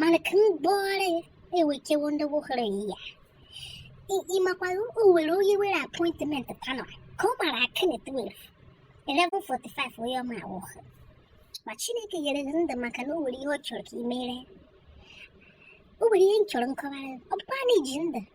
mana ka m gbọọrọ ya ewekewo ndị wohere ya ị makwara o nwere onye nwere appointment tanọ ka ọ mara aka na 12 11:45 onye ọma anwụọ ma chineke nyere gị ndụ maka na o nwere ihe ọ chọrọ ka ị mere o nwere ihe m chọrọ nkọwara ọ bụkwa na iji ndụ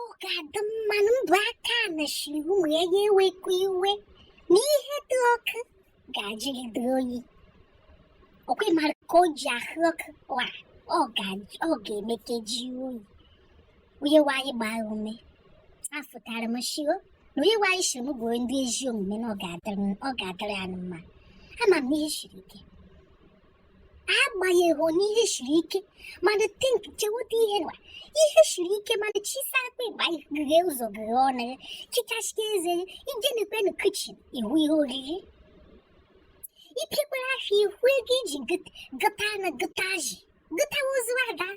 ọ ga-adị mma na mbụ aka na shiri ụmụ ya ewekwa iwe na ihe dị ọkụ ga-ajụgide oyi ọkwa ị mara ka o ji ahụ ọkụ wa ọ ga-emeke ji oyi onye nwe anyị gbaa ume afụtara m shi na onye nwe anyị shiri m gwa ndị ezi omume na ọ ga-adịrị ya mma ama m ihe siri ike agbanyeghị na ihe siri ike mana tink cheweta ihe nwa ihe siri ike mana chisa akpa ịgba ghe ụzọ ghe ọnụ ya chichasịa eze ya i je n'ekwu na kichin ị hụ ihe oriri ipikwara afọ ị hụ ego i ji gota anụ gota azụ gotawa ozu ada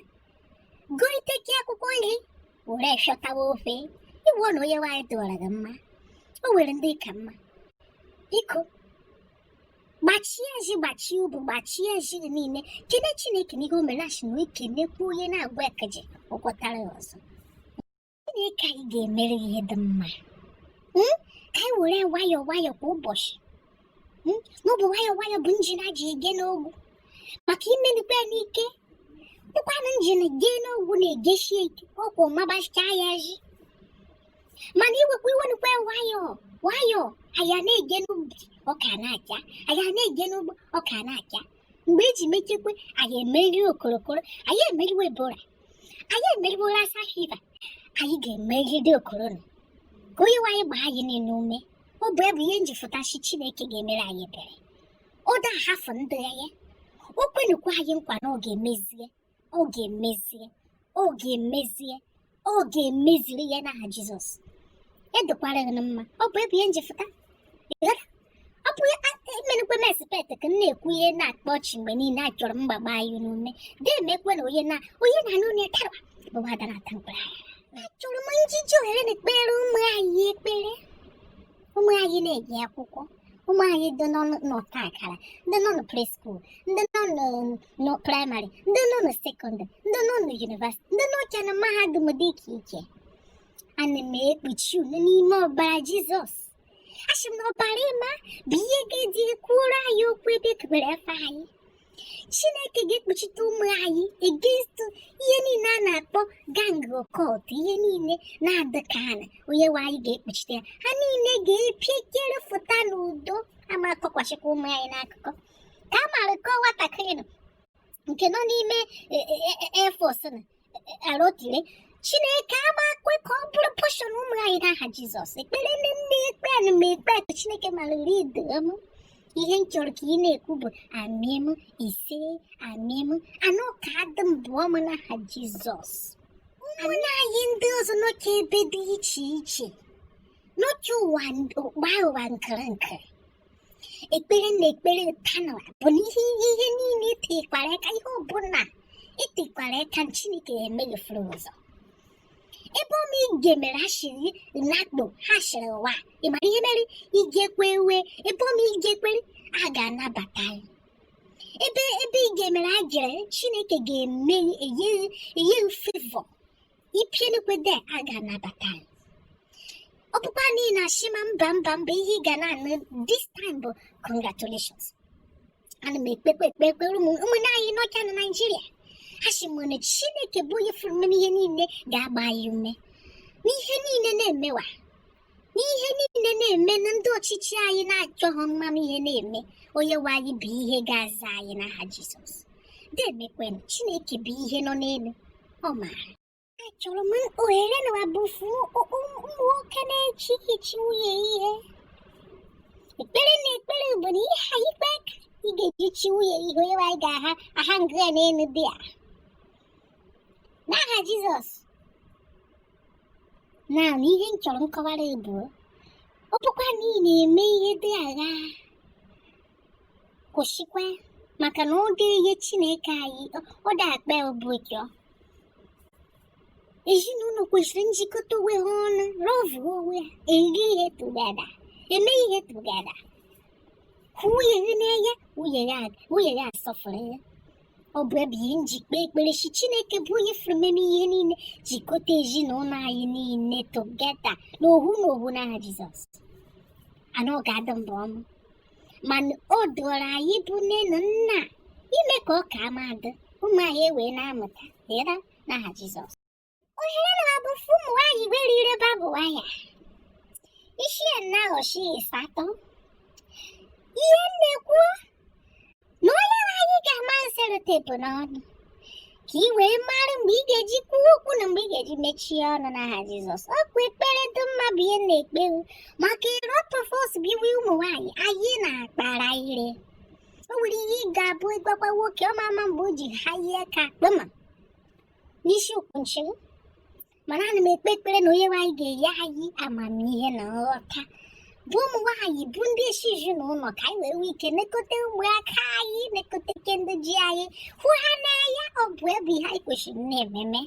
goteke akwụkwọ nri were chọtawa ofe ị hụ na onye nwe anyị dịwara gị mma o nwere ndị ị ka mma biko gbachie ezi gbachie obu gbachie ezi niile kene chineke n'ihe o mere a sị na ekenekwa onye na-agwa ekeje ọ kwọtara ya ọzọ chineke anyị ga-emere ihe dị mma hmm? ka anyị were nwayọọ nwayọọ kwa ụbọchị hmm? na ọ bụ nwayọọ nwayọọ bụ njem e ji eje n'ogwu maka i menukwa ya n'ike ọkwanụ njem jee n'ogwu na-ejesie ike ọkwa ọ magbachaa ya ezi mana ewekwa iwe nukwa nwayọọ nwayọọ anyị na-eje n'ubi ọka na-acha anyị na-eje n'ugbo ọka na-acha mgbe eji mechekwa anyị emeri okorokoro anyị emeriwe ebola anyị emeriwe lassa fever anyị ga-emeride okorona ka onye nwe anyị gbaa anyị niile ume ọ bụ ya bụ ihe m ji fụta shi chineke ga-emere anyị ebere ọ da ahafụ ndị ya o kwenukwa anyị nkwa na ọ ga-emezie ọ ga-emezie ọ ga-emezie ọ ga-emeziri ya n'aha jizọs ya dịkwara gị mma ọ bụ ya bụ ihe m ji fụta ọ bụ emenukwe m expect ka m na-ekwu ihe na-akpa ọchị mgbe niile achọrọ m gbagbaa anyị n'ume ga-emekwe na onye na onye na anụ onye tarwa bụ ada na-ata mkpụrụ achọrọ m iji ohere a ekpere ụmụ anyị ekpere ụmụ anyị na-eje akwụkwọ ụmụ anyị ndị nọ n'ọta akara ndị nọ na preschool ndị nọ na praịmarị ndị nọ na sekọndịrị ndị nọ na yunivasịtị ndị nọcha na mahadum dị iche iche ana m ekpuchi unu n'ime ọbara jizọs asị m na ọbara ọma bụ ihe ga-eji kwuoro anyị okwu ebe a kpọrọ afa anyị chineke ga-ekpuchite ụmụ anyị against ihe niile a na-akpọ gang occult ihe niile na-adị ka ha na onye nwe anyị ga-ekpuchite ya ha niile ga-epiekere fụta n'udo ama akọkwachikwa ụmụ anyị n'akụkọ ka a mara kọọ nwatakịrị nọ nke nọ n'ime air force e, e, e, na arotile chineke ama kwe ka ọ bụrụ portion ụmụ anyị n'aha jizọs ekpere m na m na-ekpe ana m ekpe ka chineke mara uri idoo m ihe m chọrọ ka ị na-ekwu bụ amen isee amen and ọ ga-adị m bụọ m n'aha jizọs ụmụnna anyị ndị ọzọ nọcha ebe dị iche iche nọcha ụwa ụwa nkịrịnkịrị ekpere m na-ekpere taa nụ a bụ na ihe ihe niile i tikwara aka ihe ọbụla i tikwara aka chineke emeghefuru ụzọ ebe ọma ị ga mere ha shiri nakpo ha shiri ụwa ị mara ihe mere i jekwe ewe ebe ọma i jekwere a ga-anabata ya ebe ebe ị ga-emere a gere chineke ga-eme e nye favour ipienukwe de a ga-anabata ya ọ bụkwa n'ihi na a shị ma mba mba mba ihe ị ga na-anụ this time bụ congratulations ana m ekpekwe ekpe ekpere ụmụnne anyị nọcha na naijiria asị m na chineke bụ onye fụrụ mme ihe niile ga-agba anyị ume n'ihe niile na-emewa n'ihe niile na-eme na ndị ọchịchị anyị na-achọghị ịmanụ ihe na-eme onye nwe anyị bụ ihe ga-aza anyị n'aha Jizọs demekwen Chineke bụ ihe nọ n'elu ọ maara achọrọ m ohere na abụfu ụmụ nwoke na-echi ichi nwunye ihe ekpere m na-ekpere bụ na ihe anyị kpee ka ị ga-eji chi nwunye ihe onye nwe anyị ga-aha aha ngịa n'elu dị a n'aha Jizọs naanị ihe m chọrọ nkọwara bụ ọ bụkwa na ị na-eme ihe dị agha kwụsịkwa maka na ọ dị ihe chineke anyị ọ dị akpa obi ụchọ ezinụlọ kwesịrị njikọta onwe ha ọnụ lọvụ onwe ha eri ihe together eme ihe together hụ nwunye gị n'anya nwunye ya asọfụrụ ya ọ bụ ya bụ ihe m ji kpee ekpere sị chineke bụ onye fụrụ mme mme ihe niile jikọta ezinụlọ anyị niile together n'ohu na ohu n'aha jizọs and ọ ga-adị mbụ ọnụ mana ọ dịrị anyị bụ nne na nna ime ka ọ ka ama adị ụmụ anyị ewee na-amụta dịra n'aha jizọs ohere na bụ fụ ụmụ nwaanyị nwere ire barb wire isi na aghọchi ịsatọ ihe m na-ekwu na onye nwe anyị ga-ama selotepu n'ọnụ ka ị wee mara mgbe ị ga-eji kwuo okwu na mgbe ị ga-eji mechie ọnụ n'aha Jizọs ọ kwa ekpere dị mma bụ ihe m na-ekpe maka ịrọtọfọs bụ ihe ụmụ nwaanyị anyị na-akpara ire o nwere ihe ị ga-abụ ịgwakwa nwoke ọ ma ama mgbe o ji ha ihe ka kpema n'isi ukwu nchị mana ana m ekpe ekpere na onye nwe anyị ga-enye anyị amamihe na nghọta bụ ụmụ nwaanyị bụ ndị isi ezinụlọ ka anyị wee nwee ike nekọta ụmụaka anyị nekọtake ndị ji anyị hụ ha n'anya ọ bụ ya bụ ihe anyị kwesịrị na-eme eme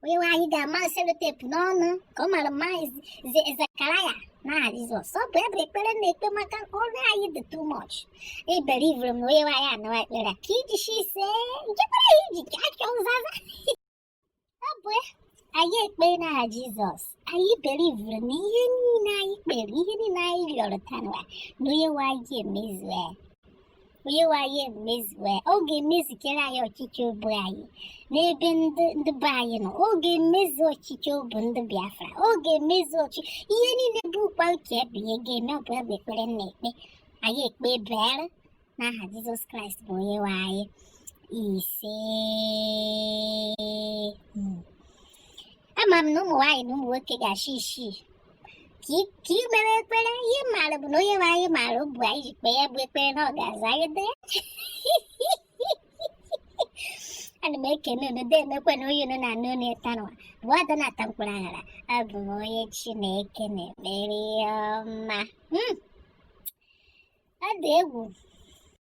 onye nwe anyị ga-ama selotepu n'ọnụ ka ọ mara mma Zekaraya n'aha Jizọs ọ bụ ya bụ ekpere m na-ekpe maka ọnụ anyị dị too much ebelievere m na onye nwe anyị anụwa ekpere ka iji shi ise nke mere anyị ji ka achọ nzaza ọ bụ anyị ekpe n'aha Jizọs anyị believuru na ihe niile anyị kpere ihe niile anyị rịọrọ tanụwa na onye nwe anyị emezue onye nwe anyị emezue ọ ga-emezukere anyị ọchịchọ obu anyị n'ebe ndị be anyị nọ ọ ga-emezu ọchịchọ obu ndị Biafra ọ ga-emezu ọchịchọ ihe niile bụkwa uche ya bụ ihe ọ ga-eme ọ bụ ya bụ ekpere m na-ekpe anyị ekpe bere n'aha Jizọs Kraịst bụ onye nwe anyị ise hmm. ama m na ụmụ nwaanyị na ụmụ nwoke ga-asị sị ka ị mere ekpere ihe m maara bụ na onye nwe anyị maara obu anyị ji kpee ya bụ ekpere na ọ ga-aza anyị ana m ekene unu deemekwanụ onye unu na-anụ olu ya tanụwa bụ Ada na-ata mkpụrụ aṅara abụ m onye chineke na-emere ihe ọma Hmm. ọ dị egwu